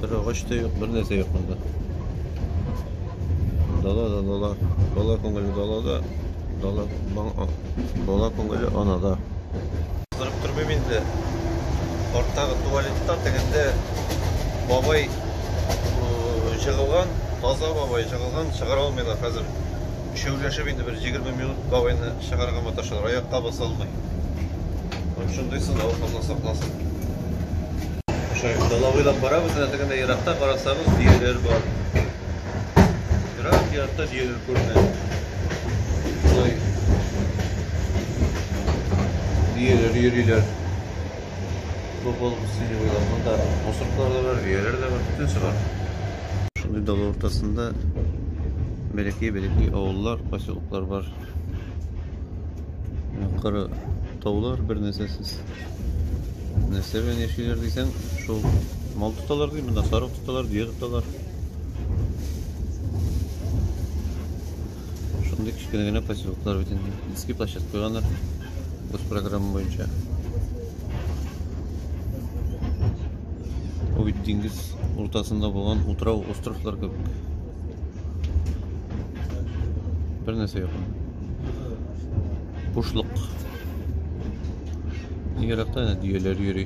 Бер агач та юк, бер нәрсә юк монда. Дала да дала. Дала күңеле далада. Дала бала күңеле анада. Кызырып тормыйм инде. Арттагы туалетта тегендә бабай жыгылган, таза бабай жыгылган, чыгара алмыйлар хәзер. Өчәүләшеп инде бер 20 минут бабайны чыгарга маташалар, аякка баса алмый. Шундый сынау Алла сакласын. Шулай дала буйлап барабыз, әнә тегендә еракта карасагыз, дөяләр бар. Ерак, еракта дөяләр күренә. Шулай дөяләр йөриләр. Футбол үсене буйлап монда мусорклар да бар, дөяләр дә бар, бөтенесе бар. Шундый дала уртасында бәләкәй-бәләкәй авыллар, поселоклар бар. Кара таулар бер нәрсәсез. Нәрсә белән яшиләр дисәң, шул мал тоталар ди, монда сарык тоталар, дөя тоталар. Шундый кечкенә генә поселоклар бит инде. Детский площадка куйганнар. Бу программа буенча. Ул бит диңгез уртасында булган утрау островлар кебек. Бер нәрсә юк. Бушлык. Еракта әнә дөяләр йөри.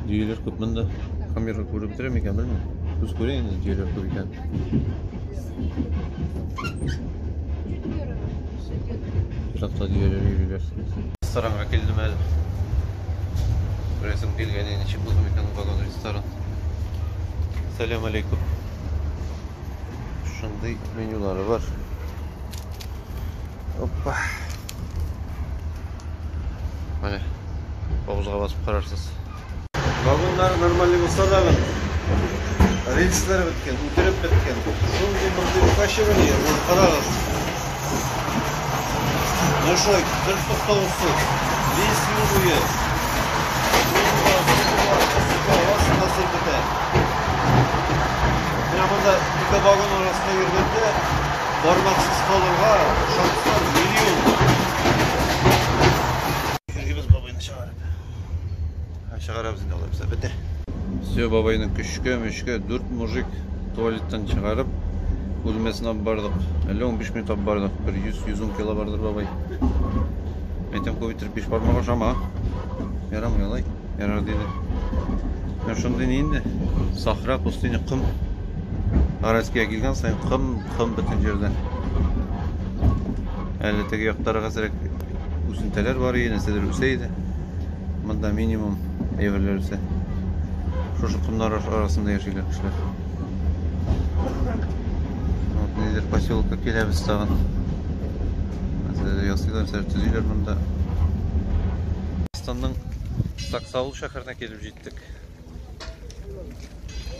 Дөяләр күп монда. Камера күреп бетерә микән, белмим. Күз күрә инде дөяләр күп икән. Еракта дөяләр йөриләр. Ресторанга килдем әле. Күрәсем килгән, ничек булды микән ул ресторан. Сәләм алейкум. Шундый менюлары бар. Опа. Менә авызга басып карарсыз. Вагоннар нормаль булса да гын. Рельслар беткән, үтереп беткән. Шундый мондый укачивание, карагыз. Дошой, бер туктаусыз, без юл буе. Хасил бетә. Менә монда ике вагон арасында йөргәндә бармаксыз калырга шанслар миллион. Иргибез бабайны чыгарып. Ә чыгарабыз инде алай булса. Бетә. Все, бабайны көчкә, мөчкә, дүрт мужик туалеттан чыгарып, бүлмәсенә алып бардык. Әллә 15 минут алып бардык. Бер 100-110 кило бардыр бабай. Әйтәм, күп иттереп биш бармак ашама. Ярамый алай. Ярар диде. Менә шундый ни инде. Сахра, пустыня, ком. Аральскига килгән сайын ком, ком бөтен җирдә. Әле теге яктарыгызрәк үсентәләр бар иде, нәрсәдер үсә иде. Монда минимум әйберләр үсә. Шушы комнар арасында яшиләр кешеләр. Вот нидер поселка киләбез тагын. Нәрсәдер ясыйлар, нәрсәдер төзиләр монда. Татарстанның Саксаул шәһәренә килеп җиттек.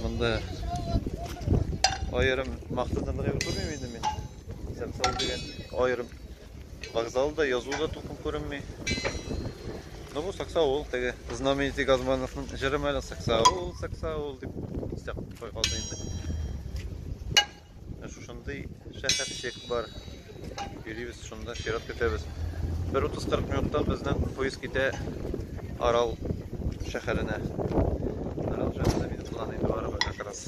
Монда аерым мактанырлык күрмим инде мин. Саксаул дигән аерым Вокзалда язу да тупым күренми. Ну бу саксаул теге знаменитый Газмановның җыры мәле саксаул, саксаул дип истә кой калды инде. Ә шушындый шәһәрчек бар. Йөрибез шунда, чират көтәбез. Бер 30-40 минутта безнең поезд китә Арал шәһәренә. Арал шәһәренә минутлар инде барыбер как раз.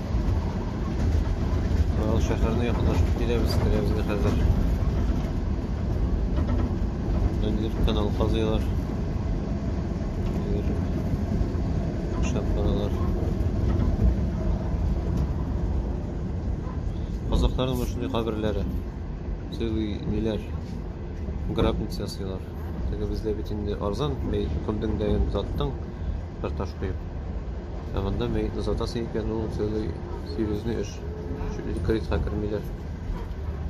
Мал шәһәренә якынлашып киләбез, керәбез инде хәзер. Ниндидер канал казыйлар. Ниндидер эшләп баралар. Казакларның менә шундый каберләре. Сыйлый ниләр? Гробница ясыйлар. Теге бездә бит инде арзан, бәй, көлдең дә янып заттың. картошкой. Ә монда мәетне сатасы икән, ул целый серьезный эш. Чуть ли критка кермиләр.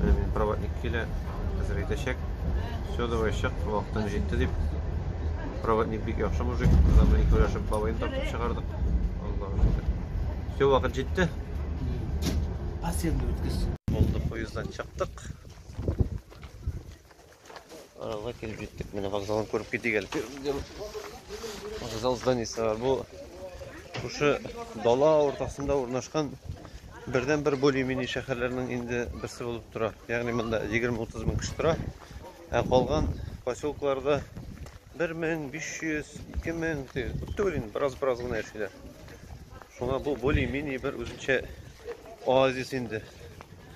Менә мин проводник килә, хәзер әйтәчәк. Все, давай чык, вакытың җитте дип. Проводник бик яхшы мужик, замлы икәүләшеп бабайны тартып чыгардык. Аллаһу шөкер. Все, вакыт җитте. Асенды үткез. Булды, поезддан чыктык. Аралга килеп җиттек. Менә вокзалны күреп китик әле. Вокзал зданиесе бар. Бу шушы дала уртасында урнашкан бердән бер более-менее шәһәрләрнең инде берсе булып тора. Ягъни монда 20-30 мең кеше тора. Ә калган поселкларда 1500, 2000 күп түгел инде, бераз-бераз гына яшиләр. Шуңа бу более-менее бер үзенчә оазис инде.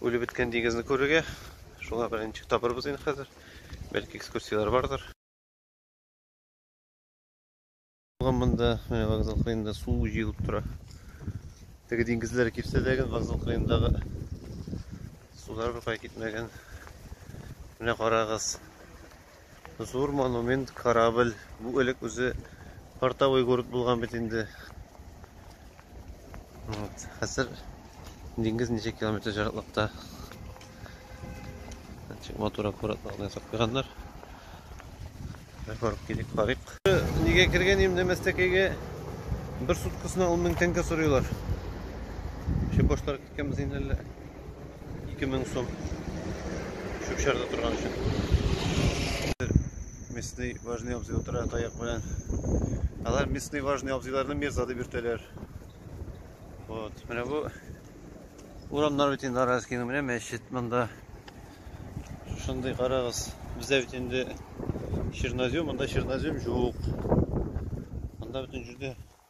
Үлеп беткән диңгезне күрергә. Шуңа белән ничек табырбыз инде хәзер. Бәлки экскурсияләр бардыр. Булган монда менә вокзал кырыенда су җыелып тора. Теге диңгезләр кипсә дә гел вокзал кырыендагы сулар беркая китмәгән. Менә карагыз. Зур монумент, корабль. Бу элек үзе портовой город булган бит инде. Вот. Хәзер диңгез ничә километр җыраклыкта. Ничек матур аккуратлык белән ясап куйганнар. Бер барып килик, карыйк. Нигә кергән идем Нәмәстәкәйгә? Бер суткасына 10 мең тәңкә сорыйлар. Чеп башлар киткәнбез инде әллә. 2000 сум. Шүкшәрдә торган өчен. Местный важный абзый утыра таяк белән. Алар местный важный абзыйларны мирза дип йөртәләр. Вот, менә бу урамнар бит инде Араскиның менә мәчет монда. Шушындый карагыз. Бездә бит инде чернозем, монда чернозем юк. Монда бөтен җирдә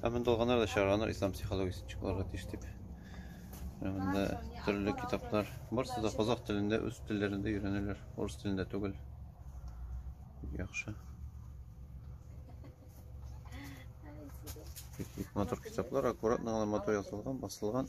Ә монда алганнар да чыгарганнар ислам психологиясен чыгарырга тиеш дип. Монда төрле китаплар. Барысы да казах телендә, үз телләрендә өйрәнәләр. Урыс телендә түгел. Яхшы. Бик матур китаплар, аккуратно гына матур ясалган, басылган.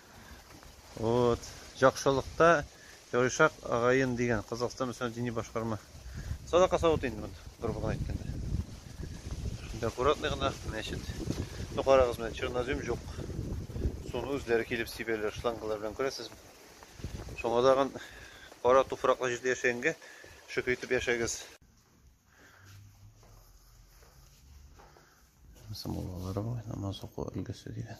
Вот. Җакшылыкта Ярышак агаен дигән Казахстан Мөселман дини башкарма. Садака савыты инде монда, грубо гына әйткәндә. Шунда аккуратный гына мәчет. Ну карагыз менә чернозем җук. Суны үзләре килеп сибәләр, шлангалар белән күрәсезме? Шуңа тагын кара туфраклы җирдә яшәгәнгә шөкер итеп яшәгез. Самолалар намаз уку өлгесе дигән.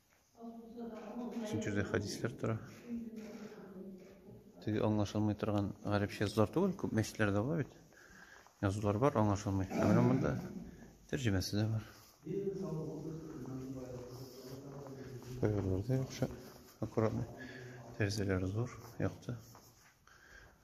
Өченче җирдә хәдисләр тора. Теге аңлашылмый торган гарәпчә язулар түгел, күп мәчетләрдә була бит. Язулар бар, аңлашылмый. Ә менә монда тәрҗемәсе дә бар. Кайберләрдә яхшы, аккуратный. Тәрәзәләре зур, якты.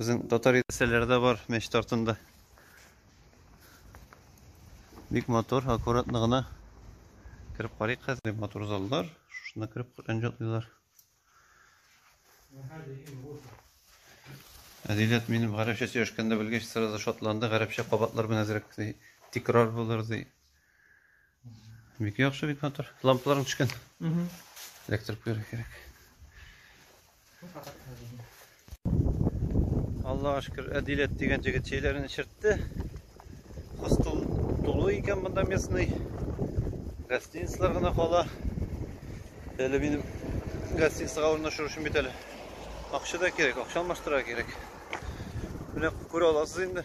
Безнең татар нәрсәләре дә бар мәчет артында. Бик матур, аккуратно гына кереп карыйк хәзер. Бик матур заллар. Шушына кереп Коръән җатлыйлар. Әдиләт минем гарәпчә сөйләшкәндә белгәч, сразу шатланды. Гарәпчә кабатлар белән әзрәк ди. Тикрар булыр ди. Бик яхшы бит мотор. Лампаларың төшкән. Угу. Электр куярга кирәк. Аллага шөкер, Әдиләт дигән җегет чәйләрен эчертте. Хостел тулы икән монда местный. Гостиницалар гына кала. Әле минем гостиницага урнашу өчен бит әле акча да кирәк, акча алмаштырырга кирәк. Менә күрә аласыз инде.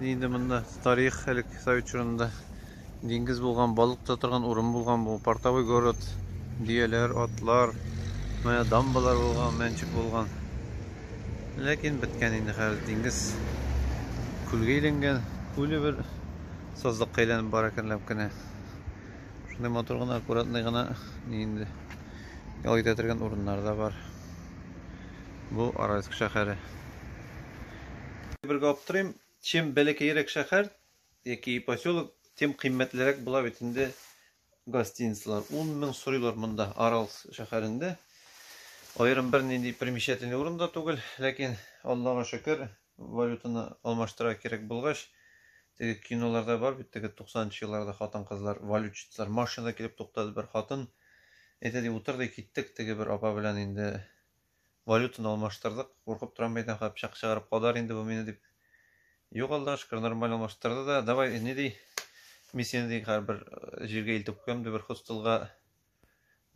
Инде монда тарих элек совет чорында диңгез булган, балык та торган урын булган бу. Портовой город, дөяләр, атлар, менә дамбалар булган, мәнчек булган. Ләкин беткән инде хәзер диңгез күлгә әйләнгән, күле бер сазлыкка әйләнеп бара икәнләп кенә. Шундый матур гына, аккуратный гына инде ял итә торган урыннар да бар. Бу Аральск шәһәре. Бер аптырыйм, чем бәләкәерәк шәһәр яки поселок, тем кыйммәтлерәк була бит инде гостиницалар. 10 мең сорыйлар монда, Арал шәһәрендә. Аерым бер нинди примечательный урын да түгел, ләкин Аллага шөкер, валютаны алмаштыра кирәк булгач, теге киноларда бар бит, теге 90-нчы елларда хатын-кызлар, валютчитлар машинада килеп туктады бер хатын. Әйтә ди, утыр ди, киттек теге бер апа белән инде Валютаны алмаштырдык. Куркып торам, бәйдән кая пычак чыгарып кадар инде бу мине дип. Юк, Аллага шөкер, нормаль алмаштырды да. Давай, ни ди? Мин сине ди хәр бер э, җиргә илтеп куям ди бер хостелга.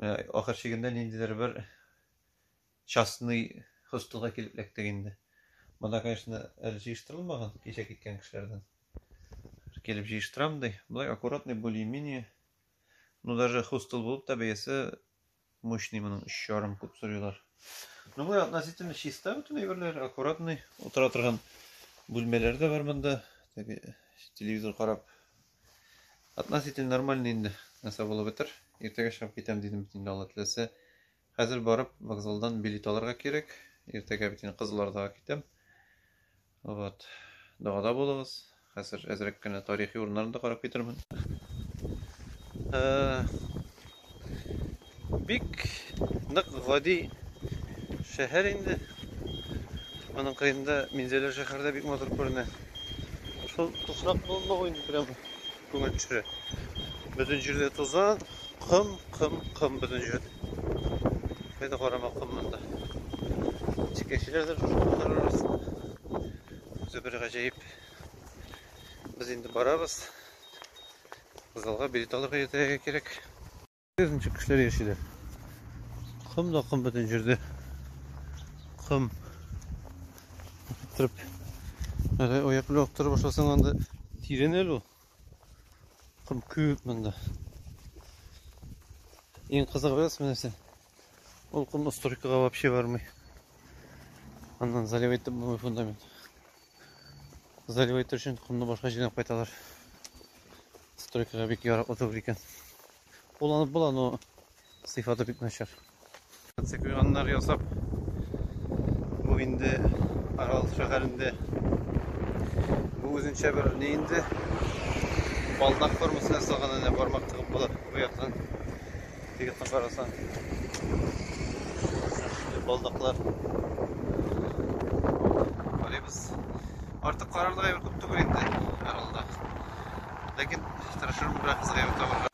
Менә ахыр чигендә ниндидер бер частный хостелга килеп эләктек инде. Монда, конечно, әле җыештырылмаган кичә киткән кешеләрдән. Килеп җыештырам ди. Болай аккуратный более-менее. Ну даже хостел булып та бәясе Мощный моның өч ярым күп сорыйлар. Ну бу относительно чиста бөтен әйберләр, аккуратный. Утыра торган бүлмәләр дә бар монда. Теге телевизор карап. Относительно нормальный инде. Нәрсә булып бетер. Иртәгә чыгып китәм дидем бит инде Алла теләсә. Хәзер барып вокзалдан билет алырга кирәк. Иртәгә бит инде кызылордага китәм. Вот. Дагада булыгыз. Хәзер әзрәк кенә тарихи урыннарны да карап китермен. Э, бик нык гади шәһәр инде. Аның кырында Минзәлә шәһәрдә бик матур күренә. Шул туфрак болынлыгы инде прямо. Күңел төшерә. Бөтен җирдә тузан, кым, кым, кым бөтен җирдә. Кайда карама кым монда. Чикәчеләр дә шушы кымнар арасында. Үзе бер гаҗәеп. Без инде барабыз. Залга билет алырга иртәгә кирәк. Күрәсең, ничек кешеләр яшиләр. Ком да ком бөтен җирдә. Ком. Иттереп. Әле аяк белән оттырып башласаң анда тирен әле ул. Ком күп монда. Иң кызыгы нәрсә? Ул ком стройкага вообще бармый. Аннан залив итеп булмый фундамент. Залив итер өчен комны башка җирдән кайталар. Стройкага бик ярап отыр икән. Кулланып була, но сыйфаты бик начар. Цикуяннар ясап, бу инде Арал шәһәрендә бу үзенчә бер ни инде балдак формасына ясалган әнә бармак тыгып була бу яктан. Егетне карасаң. Балдаклар. Карыйбыз. Артык карарлык әйбер күп түгел инде, һәралда. Ләкин тырышырмын берәр кызык әйбер табарга.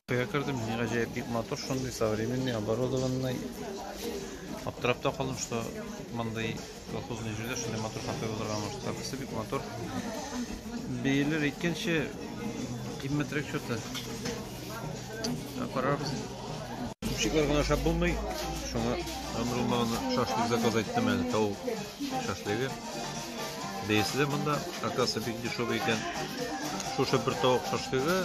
Көйгә кердем, ни гаҗәеп бик матур, шундый современный, оборудованный. Аптырап та калдым, что мондый колхозный җирдә шундый матур кафе булырга может. Кафесы бик матур. Бәяләр әйткәнче кыйммәтрәк что-то. Карарбыз. Шиклар гына ашап булмый. Шуңа гомер булмаганда шашлык заказ айттым әле, тавык шашлыгы. Бәясе дә монда, оказывается, бик дешевый икән. Шушы бер тавык шашлыгы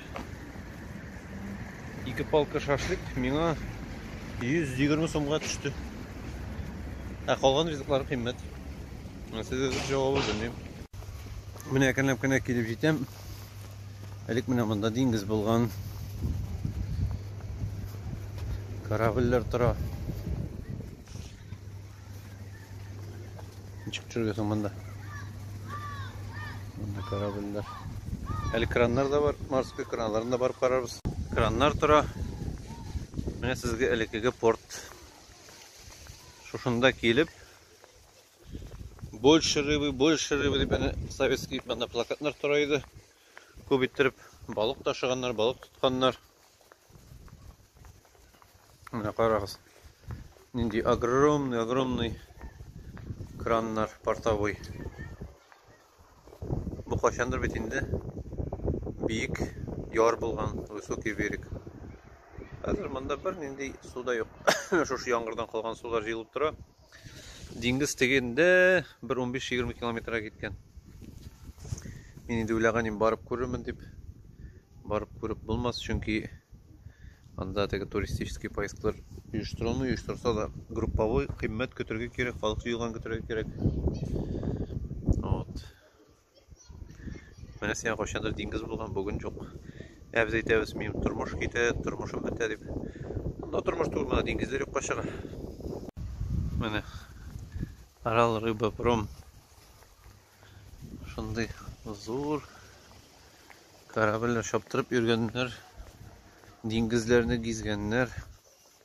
Ике палка шашлик миңа 120 сумга төште. Ә калган ризыклар кыйммәт. Сезгә җавабы белмим. Менә әкренләп кенә килеп җитәм. Элек менә монда диңгез булган. Корабльләр тора. Ничек төшергә соң монда? Монда корабльләр. Әле краннар да бар, морской краннарын да барып карарбыз. Краннар тора. Менә сезгә элеккеге порт. Шушында килеп, больше рыбы, больше рыбы дип әнә советский монда плакатлар тора иде. Күп иттереп балык ташыганнар, балык тотканнар. Менә карагыз. Нинди огромный, огромный краннар портовой. Бу кайчандыр бит инде биек яр булган высокий берег. Хәзер монда бер нинди су да юк. Шушы яңгырдан калган сулар җыелып тора. Диңгез тегендә бер 15-20 километрга киткән. Мин инде уйлаган идем барып күрермен дип. Барып күреп булмас, чөнки анда теге туристический поездклар оештырылмый, оештырса да групповой кыйммәт көтергә кирәк, халык җыелган көтергә кирәк. Вот. Менә сиңа кайчандыр диңгез булган, бүген юк. Ә без әйтәбез, минем тормыш китә, тормышым бетә дип. Монда тормыш түгел, монда диңгезләр юкка чыга. Менә Арал рыба пром. Шундый зур корабльләр чаптырып йөргәннәр, диңгезләрне гизгәннәр.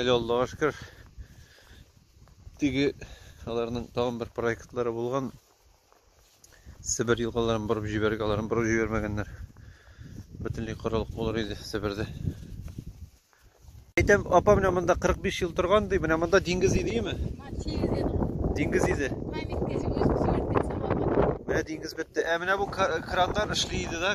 Әле Аллага шөкер, теге аларның тагын бер проектлары булган. Себер елгаларын борып җибәргән, аларын борып җибәрмәгәннәр. Бөтенләй корылык булыр иде Себердә. Әйтәм, апа менә монда 45 ел торган ди, менә монда диңгез иде юме? Диңгез иде. Менә диңгез бетте. Ә менә бу краннар эшли иде да,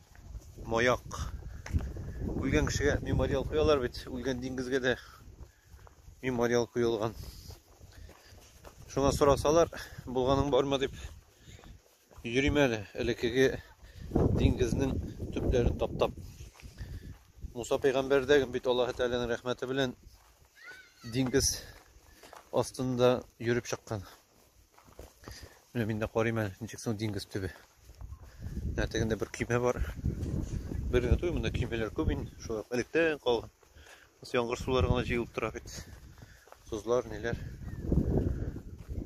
маяк. Үлгән кешегә мемориал куялар бит, үлгән диңгезгә дә мемориал куелган. Шуңа сорасалар, булганың бармы дип йөрим әле, элеккеге диңгезнең төпләрен таптап. Муса пәйгамбәр дә бит Аллаһы Тәгаләнең рәхмәте белән диңгез астында йөреп чыккан. Менә мин дә карыйм әле, ничек соң диңгез төбе. Менә тегендә бер көймә бар. Бер генә түгел, монда көймәләр күп инде. Шулай ук электән калган. Ус яңгыр сулары гына җыелып тора бит. Созлар, ниләр.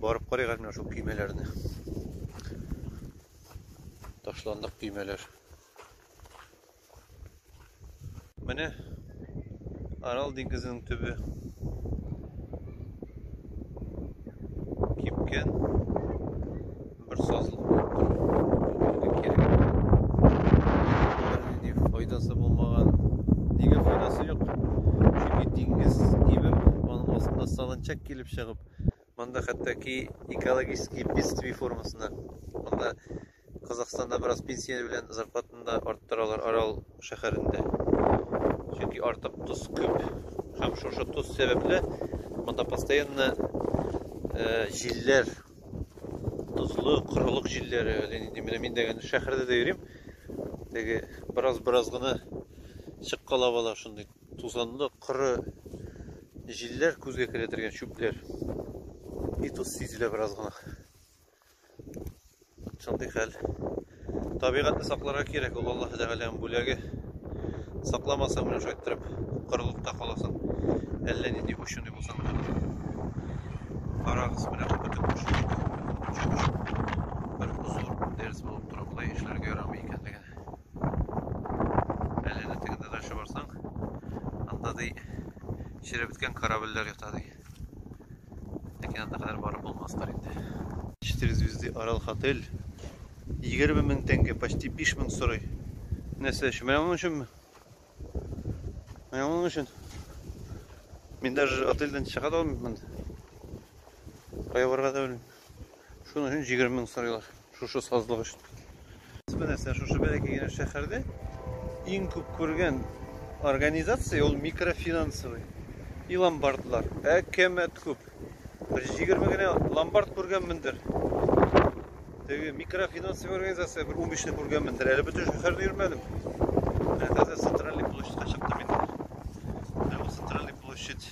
Барып карыйк әле менә шул көймәләрне. Ташландык көймәләр. Менә Арал диңгезенең төбе. Кипкән бер сазлык булып тора. Нинди файдасы булмаган. Нигә файдасы юк? Чөнки диңгез кибеп, аның астында салынчак килеп чыгып, монда хәтта ки экологический бедствие формасына, монда Казахстанда бераз пенсия белән зарплатаны да арттыралар Арал шәһәрендә. Чөнки артык тоз күп. Һәм шушы тоз сәбәпле монда постоянно җилләр, тозлы, корылык җилләре, әллә нинди. Менә мин дә шәһәрдә дә йөрим. Теге бераз-бераз гына чыккалап ала шундый тузанлы, коры җилләр күзгә килә торган чүпләр. И тоз сизелә бераз гына. Шундый хәл. Табигатьне сакларга кирәк, ул Аллаһ Тәгаләнең бүләге. Сакламасаң, менә шулай иттереп кырылыкта каласың. Әллә нинди ученый булсаң да. Карагыз, менә бөтен кеше бер зур дәрес булып тора. Болай эшләргә ярамый икәнлеген. Әллә нинди тегендә дальше барсаң, анда ди, чирәбеткән корабльләр ята ди. Ләкин анда кадәр барып булмастыр инде. Четыре звезды Арал Хотель. 20 мең тәңкә, почти 5 мең сорый. Нәрсә өчен? Менә моның өченме? Менә моның өчен. Мин даже отельдән чыга да алмыйм монда. Кая барырга да белмим. Шуның өчен 20 мең сорыйлар. Шушы сазлык өчен. Бу нәрсә шушы бәләкәй генә шәһәрдә иң күп күргән организация ул микрофинансовый и ломбардлар. Әкәмәт күп. Бер 20 генә ломбард күргәнмендер. Теге микрофинансовый организация бер 15 не күргәнмендер. Әле бөтен шәһәрне йөрмәдем. Менә хәзер центральный площадька чыктым инде. Ә бу центральный площадь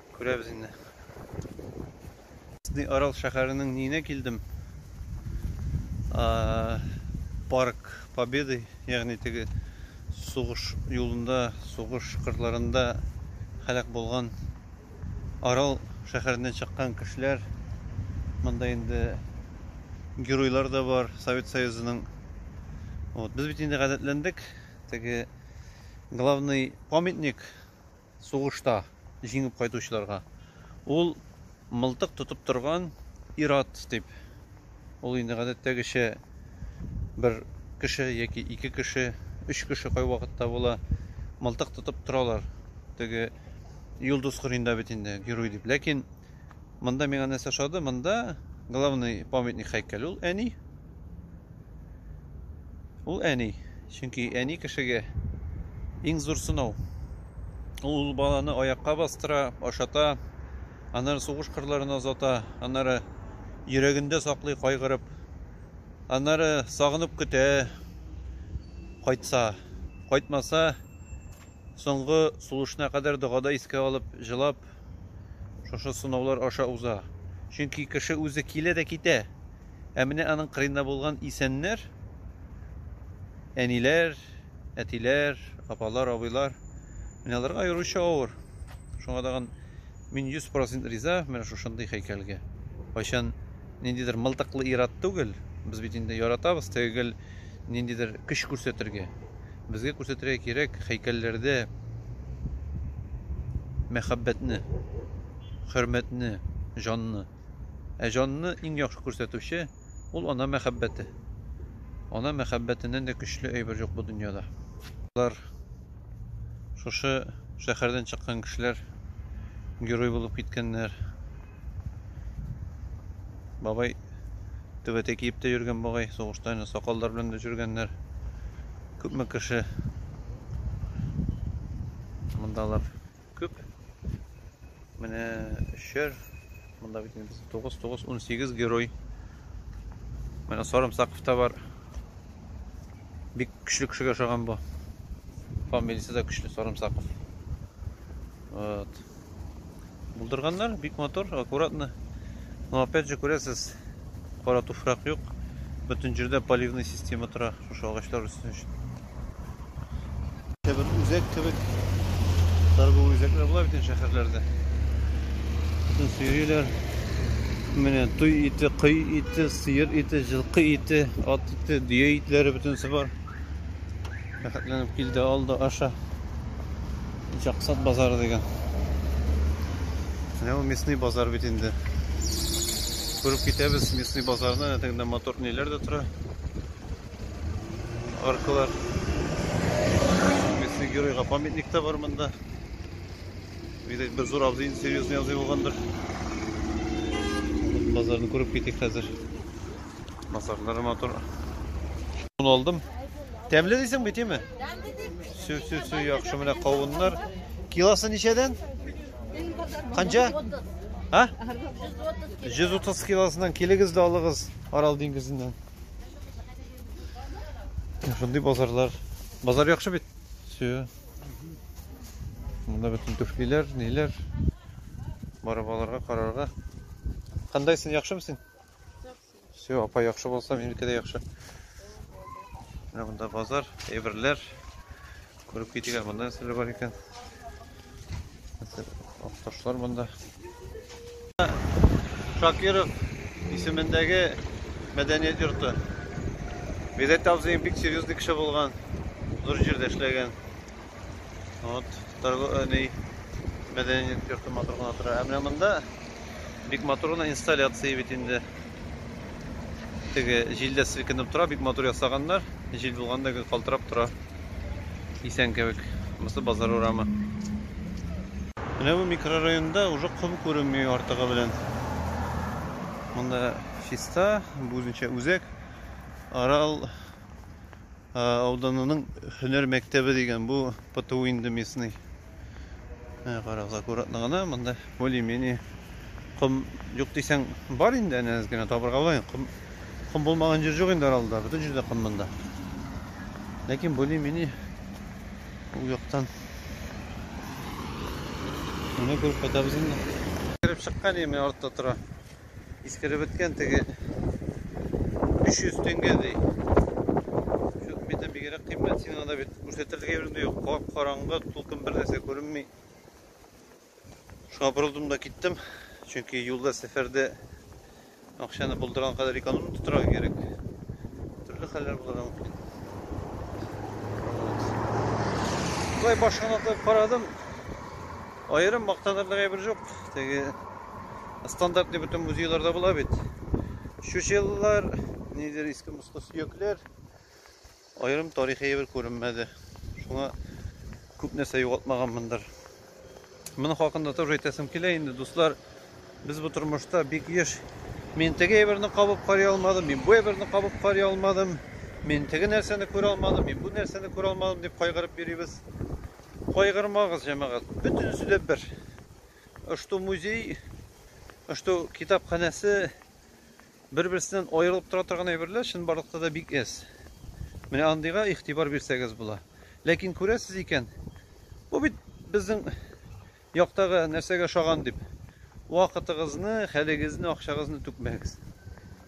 Күрәбез инде. Сни Арал шәһәренең ниенә килдем? Парк Победы, ягъни теге сугыш юлында, сугыш кырларында һәлак булган Арал шәһәреннән чыккан кешеләр. Монда инде геройлар да бар Совет Союзының. Вот, без бит инде гадәтләндек. Теге главный памятник сугышта җиңеп кайтучыларга, ул мылтык тотып торган ир-ат дип. Ул инде гадәттәгечә бер кеше яки ике кеше, өч кеше кайвакытта була, мылтык тотып торалар. Теге Йолдыз Кырыенда бит инде герой дип. Ләкин Монда миңа нәрсә ошады? Монда главный памятник һәйкәл ул әни. Ул әни. Чөнки әни кешегә иң зур сынау. Ул баланы аякка бастыра, ашата, аннары сугыш кырларына озата, аннары йөрәгендә саклый кайгырып, аннары сагынып көтә, кайтса, кайтмаса, соңгы сулышына кадәр догада искә алып, җылап, Шушы сынаулар аша уза. Чөнки кеше үзе килә дә китә. Ә менә аның кырыенда булган исәннәр, әниләр, әтиләр, апалар, абыйлар, менә аларга аеруча авыр. Шуңа тагын мин 100% риза менә шушындый һәйкәлгә. Кайчан ниндидер мылтыклы ир-ат түгел, без бит инде яратабыз теге гел ниндидер көч күрсәтергә. Безгә күрсәтергә кирәк һәйкәлләрдә мәхәббәтне, хөрмәтне, җанны. Ә җанны иң яхшы күрсәтүче ул ана мәхәббәте. Ана мәхәббәтеннән дә көчле әйбер юк бу дөньяда. Алар шушы шәһәрдән чыккан кешеләр герой булып киткәннәр. Бабай түбәтәй киеп тә йөргән бугай, сугышта инде сакаллар белән дә жүргәннәр. Күпме кеше мондалар күп. Менә өчәр, монда бит инде безнең 9 9 18 герой. Менә Сарымсаков та бар. Бик көчле кешегә ошаган бу. Фамилиясе дә көчле Сарымсаков. Вот. Булдырганнар, бик матур, аккуратно. Но опять же күрәсез, кара туфрак юк. Бөтен җирдә поливный система тора, шушы агачлар өсен өчен. Бер үзәк кебек торговый үзәкләр була бит шәһәрләрдә. Бөтен сөйриләр. Менә туй ите, кый ите, сыер ите, җылкы ите, ат ите, дөя итләре бөтенесе бар. Рәхәтләнеп килде алды аша. Җаксат базары дигән. Менә ул местный базар бит инде. Күреп китәбез местный базарны, әтәгендә мотор ниләр дә тора. Аркалар. Местный геройга памятник та бар монда. Видать, бер зур абзый серьезный абзый булгандыр. Базарны күреп китик хәзер. Масажлары матур. Шуны алдым. Тәмле дисең бит, яме? Су, су, су, яхшы менә кавыннар. Килосы ничәдән? Канча? А? 130 килосыннан килегез дә алыгыз Арал диңгезеннән. Шундый базарлар. Базар яхшы бит. Су. Монда бөтен түфлиләр, ниләр. Барып аларга, карарга. Кандайсың, яхшымы син? Все, апа яхшы булса, минеке дә яхшы. Менә монда базар, әйберләр. Күреп китик, монда нәрсәләр бар икән. Акташлар монда. Шакиров исемендәге мәдәният йорты. Бизәт абзыем бик серьезный кеше булган. Зур җирдә эшләгән. Вот, торговый мәдәният йорты матур гына тора. Ә менә монда бик матур гына инсталляция бит инде. Теге җилдә селкенеп тора, бик матур ясаганнар. Җил булганда гел калтырап тора. Исән кебек. Монысы базар урамы. Менә бу микрорайонда уже ком күренми артыгы белән. Монда чиста, бу үзенчә үзәк. Арал ауданының һөнәр мәктәбе дигән бу ПТУ инде местный. Ә, карагыз, аккуратно гына монда более-менее ком юк дисәң бар инде әнә әз генә табырга була. Ком, ком булмаган җир юк инде аралда, бөтен җирдә ком монда. Ләкин более-менее ул яктан Менә күреп кайтабыз инде. Кереп чыккан, менә артта тора. Искереп беткән теге 500 теңге ди. Чүк бите бигрәк кыйммәт, син анда бит күрсәтерлек әйбер дә юк. Кап караңгы, тулкын бер нәрсә күренми. Шуңа борылдым да киттем. Чөнки юлда сәфәрдә акчаны булдырган кадәр эконом тотарга кирәк. Төрле хәлләр булырга мөмкин. Шулай башын атып карадым. Аерым мактанырлык әйбер жук. Теге стандартный бөтен музейларда була бит. Чучеллар, нидер иске мускы сөякләр. Аерым тарихи әйбер күренмәде. Шуңа күп нәрсә югалтмаганмындыр. Моны хакында тоже әйтәсем килә инде, дуслар. Без бу тормышта бик еш Мин теге әйберне кабып карый алмадым, мин бу әйберне кабып карый алмадым, мин теге нәрсәне күрә алмадым, мин бу нәрсәне күрә алмадым дип кайгырып йөрибез. Кайгырмагыз, җәмәгать, бөтенесе дә бер. Ошто музей, ошто китапханәсе бер-берсеннән аерылып тора торган әйберләр чынбарлыкта да бик әз. Менә андыйга игътибар бирсәгез була. Ләкин күрәсез икән, бу бит безнең Яктагы нәрсәгә ошаган дип вакытыгызны, хәлегезне, акчагызны түкмәгез.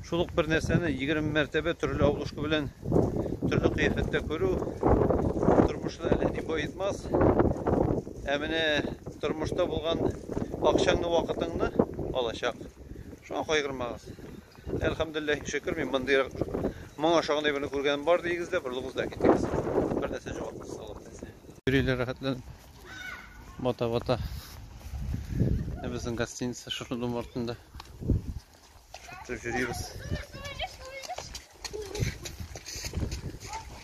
Шул ук бер нәрсәне егерме мәртәбә төрле обложка белән төрле кыяфәттә күрү тормышны әллә ни баетмас. Ә менә тормышта булган акчаңны, вакытыңны алачак. Шуңа кайгырмагыз. Әлхәмдулиллаһи шөкер, мин мондый моңа ошагандай берне күргәнем бар дигез дә, борылыгыз да китегез. Бер нәрсә җавапсыз алып. Йөриләр рәхәтләнеп. Бата бата. Ә безнең гостиница шушы дом артында. Шушы йөрибез.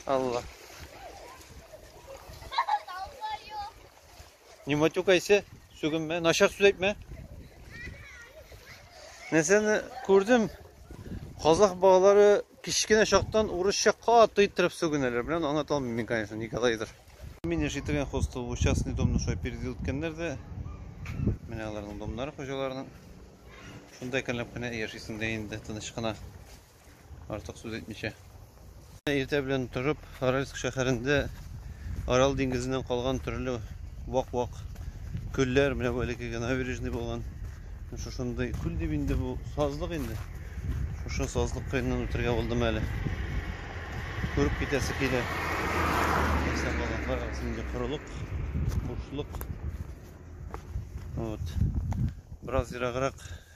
Алла. Не матюкайся, сүгенмә, начар сүз әйтмә. Нәрсәне күрдем? Казах балалары Кечкенә чактан урысча каты иттереп сүгенәләр. Белән аны оныта алмыйм мин, конечно, никогдайдыр. Мин яши торган хостел бу частный домны шулай переделытканнар да. Менә аларның домнары хуҗаларының. Шунда икәнләп кенә яшисең дә инде тыныч кына. Артык сүз әйтмичә. Иртә белән торып, Аральск шәһәрендә Арал диңгезеннән калган төрле вак-вак күлләр, менә бу элеккеге набережный булган. Шушындый күл дип инде бу сазлык инде. Шушы сазлык кыеннан үтергә булдым әле. Күреп китәсе килә. Әйсә балалар арасында корылык, бушлык. Вот. Бераз ераграк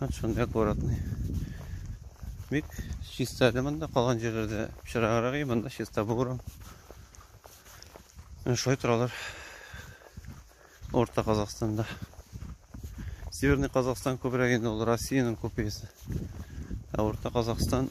Вот он аккуратный. Бик чиста әле монда калган җирләрдә пычраграк и монда чиста булган. Менә шулай торалар. Орта Казахстанда. Северный Казахстан күбрәк инде ул Россиянең копиясе. Ә Орта Казахстан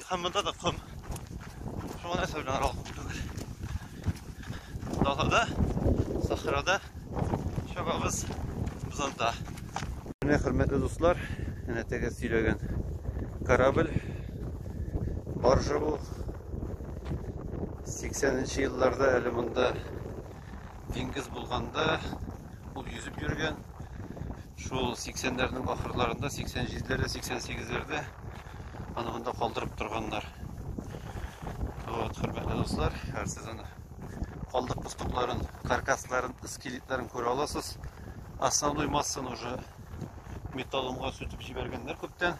Һәм монда да ком. Шуңа нәрсә белән аралык түгел. Далада, сахрада чабабыз без анда. Менә хөрмәтле дуслар, әнә теге сөйләгән корабль баржа бу. 80-нче елларда әле монда диңгез булганда ул йөзеп йөргән. Шул 80-ләрнең ахырларында, 87-ләрдә, 88-ләрдә Аны монда калдырып торганнар. Вот, хөрмәтле дуслар, һәр сез аны калдык пустокларын, каркасларын, скелетларын күрә аласыз. Основной массаны уже металломга сүтеп җибәргәннәр күптән.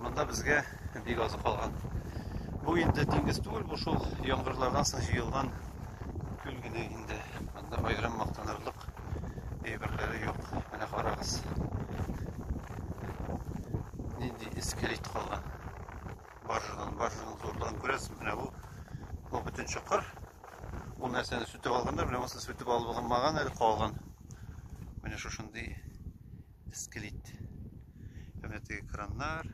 Монда безгә бик азы калган. Бу инде диңгез түгел, бу шул яңгырлардан соң җыелган күл генә инде. Бер аерым мактанырлык әйберләре юк. Менә карагыз. Нинди эскелет калган. Баржадан, баржаның зурлыгын күрәсез. Менә бу, бу бөтен чокыр. Бу нәрсәне сүтеп алганнар, менә монысы сүтеп алынмаган әле калган. Менә шушындый скелет. Һәм дә теге краннар.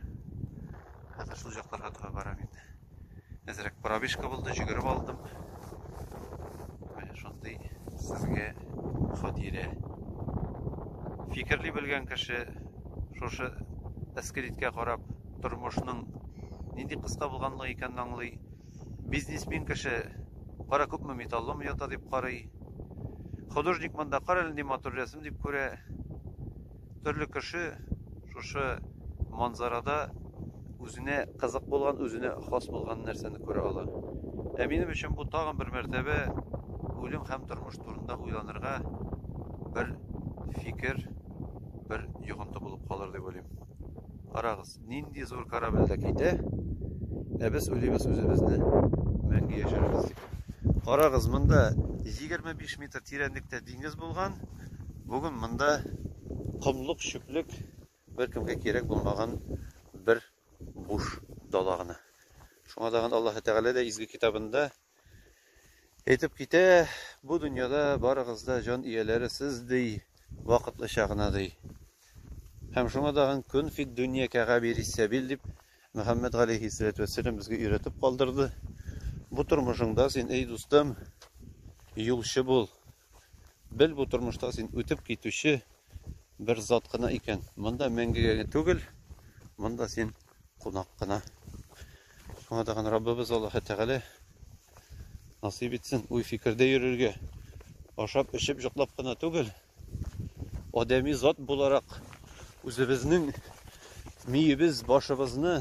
Хәзер шул җакларга таба барам инде. Әзрәк пробежка булды, җөгереп алдым. Менә шундый сезгә хатирә. Фикерли белгән кеше шушы скелеткә карап тормышның нинди кыска булганлыгы икәнен аңлый. Бизнесмен кеше кара күпме металлом ята дип карый. Художник монда кара әле ни матур рәсем дип күрә. Төрле кеше шушы манзарада үзенә кызык булган, үзенә хас булган нәрсәне күрә ала. Ә минем өчен бу тагын бер мәртәбә үлем һәм тормыш турында уйланырга бер фикер, бер йогынты булып калыр дип уйлыйм. Карагыз. Нинди зур корабль дә китә, ә без уйлыйбыз үзебезне мәңге яшәрбез дип. Карагыз, монда 25 метр тирәнлектә диңгез булган, бүген монда комлык, чүплек, беркемгә кирәк булмаган бер буш дала гына. Шуңа тагын Аллаһы Тәгалә дә изге китабында Әйтеп китә, бу дөньяда барыгыз да җан ияләре сез ди, вакытлыча гына ди. Һәм шуңа да һәм көн фит дөнья кәгабир иссәбил дип Мөхәммәд галейхи сәләту вәссәлам безгә өйрәтеп калдырды. Бу тормышыңда син, эй дустым, юлчы бул, Бел бу тормышта син үтеп китүче бер зат кына икән. Монда мәңгегә генә түгел, монда син кунак кына. Шуңа тагын Раббыбыз Аллаһы Тәгалә насыйп итсен уй фикердә йөрергә, ашап, эчеп, йоклап кына түгел, адәми зат буларак үзебезнең миебез, башыбызны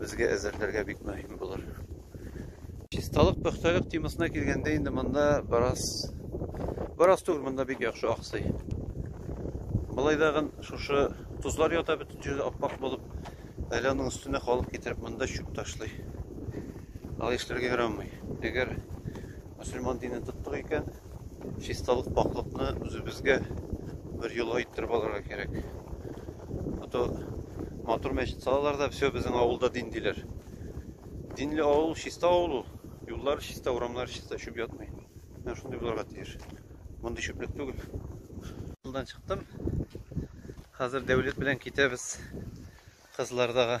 безгә әзерләргә бик мөһим булыр. Чисталык, пөхтәлек темасына килгәндә инде монда бераз бераз түгел, монда бик яхшы аксый. Болай дагын шушы тузлар ята бөтен җирдә аппак булып, әле аның өстенә халык китереп монда чүп ташлый. Алай эшләргә ярамый. Әгәр мөселман динен тоттык икән, чисталык пакьлыкны үзебезгә бер юлга иттереп алырга кирәк а то матур мәчет салалар да все безнең авылда дин диләр динле авыл чиста авыл ул юллар чиста урамнар чиста чүп ятмый менә шундый булырга тиеш мондый чүплек түгел авылдан чыктым хәзер дәүләт белән китәбез кызлардагы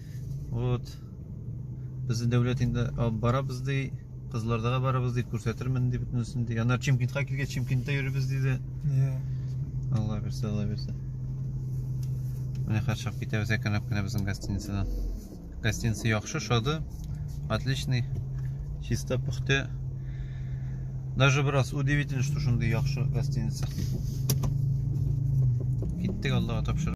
Вот. Безне дәүләт инде алып барабыз ди, кызлардага барабыз ди, күрсәтермен ди бөтенесен ди. Аннар Чимкентка килгәч, Чимкентта йөрибез диде. Иә. Алла бирсә, Алла бирсә. Менә хәзер чыгып китәбез әкренләп кенә безнең гостиницадан. Гостиница яхшы, шады, отличный, чисто, пөхтә. Даже бераз удивительно, что шундый яхшы гостиница. Киттек Аллага тапшырып.